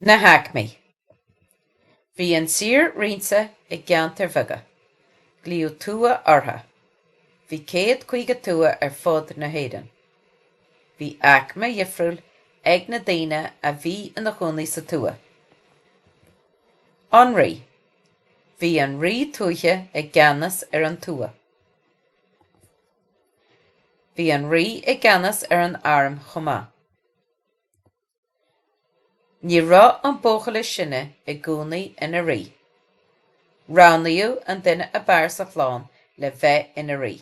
Na haicmí. Bhí an tír roinnte i gceantair bheaga. Glaodh tuath orthu. Bhí céad caoga tuath ar fud na hÉireann. Bhí aicme dhifriúil ag na daoine a bhí ina gcónaí sa tuath. An rí. Bhí an rí tuaithe i gceannas ar an tuath. Bhí an rí i gceannas ar an arm chomh maith. Ní raibh an buachaill is sine i gcónaí ina rí. Roghnaíodh an duine ab fhearr sa chlann le bheith ina rí.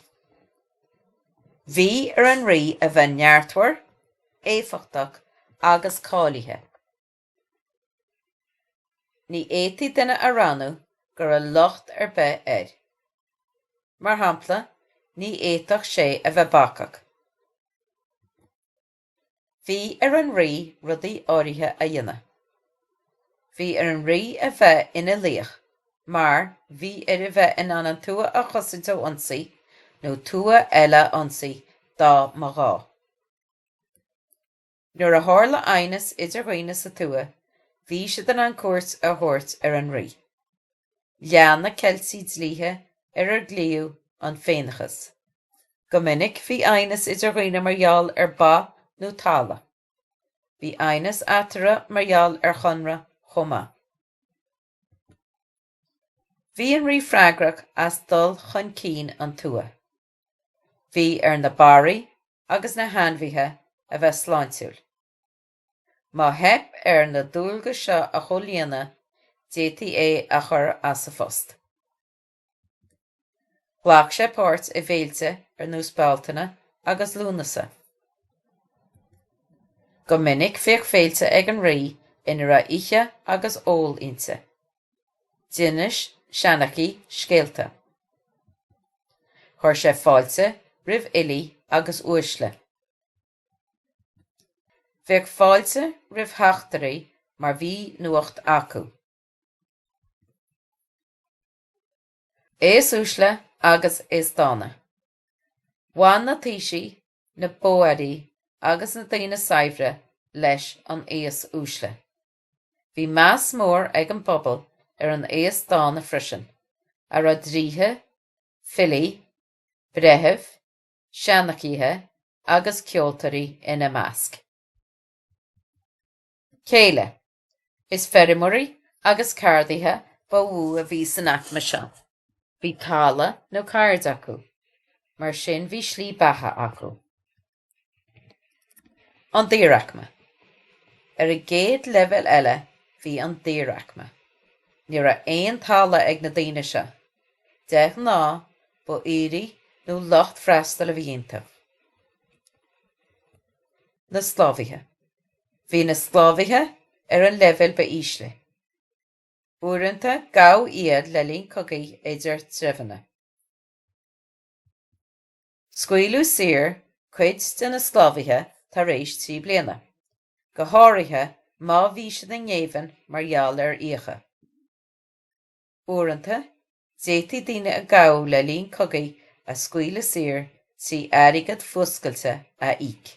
Bhí ar an rí a bheith neartmhar, éifeachtach agus cáilithe. Ní fhéadfaí duine a roghnú go raibh locht ar bith air. Mar shampla, ní fhéadfadh sé a bheith bacach. Bhí ar an Rí rudaí áirithe a dhéanamh. Bhí ar an Rí a bheith ina laoch mar bhí air a bheith in ann an tuath a chosaint ó ionsaí nó tuath eile a ionsaí dá mba ghá. Nuair a tharla aighneas idir dhaoine sa tuath, bhí siad in ann cuairt a thabhairt ar an Rí. Lean na Ceiltigh dlíthe ar ar glaodh an Féineachas. Go minic bhí aighneas idir dhaoine mar gheall ar ba nó talamh. Bhí aighneas eatarthu mar gheall ar chonradh chomh maith. Bhí an rí freagrach as dul chun cinn an tuath. Bhí ar na barraí agus na hainmhithe a bheith sláintiúil. Má theip air na dualgais seo a chomhlíonadh d'fhéadfaí é a chur as a phost. Ghlac sé páirt i bhféilte ar nós Bealtaine agus Lúnasa. Go minic bhíodh féilte ag an Rí ina raibh ithe agus ól inti. D'inis Seanchaí scéalta. Chuir sé fáilte roimh fhilí agus uaisle. Bhíodh fáilte roimh theachtairí mar bhí nuacht acu. Aos uaisle agus aos dána. Bhain na taoisigh, na bóairí agus na daoine saibhre leis an aos uaisle. Bhí meas mór ag an bpobal ar an aos dána freisin, a raibh draoithe, filí, breithimh, seanchaithe agus ceoltóirí ina measc. Céile. Is feirmeoirí agus ceardaithe ba mhó a bhí san aicme seo. Bhí talamh nó ceird acu, mar sin bhí slí beatha acu. An daoraicme. Ar an gcéad leibhéal eile bhí an daoraicme. Ní raibh aon talamh ag na daoine seo. De ghnáth ba aoirí nó lucht freastail a bhí iontu. Na sclábhaithe. bhí na sclábhaithe ar an leibhéal ba ísle. Uaireanta gabhadh iad le linn cogaí idir treibheanna. Scaoileadh saor cuid de na sclábhaithe tar éis trí bliana, go háirithe má bhí siad i ngéibheann mar gheall ar fhiacha. Uaireanta, d'fhéadfaí daoine a gabhadh le linn cogaí a scaoileadh saor trí airgead fuascailte a íoc.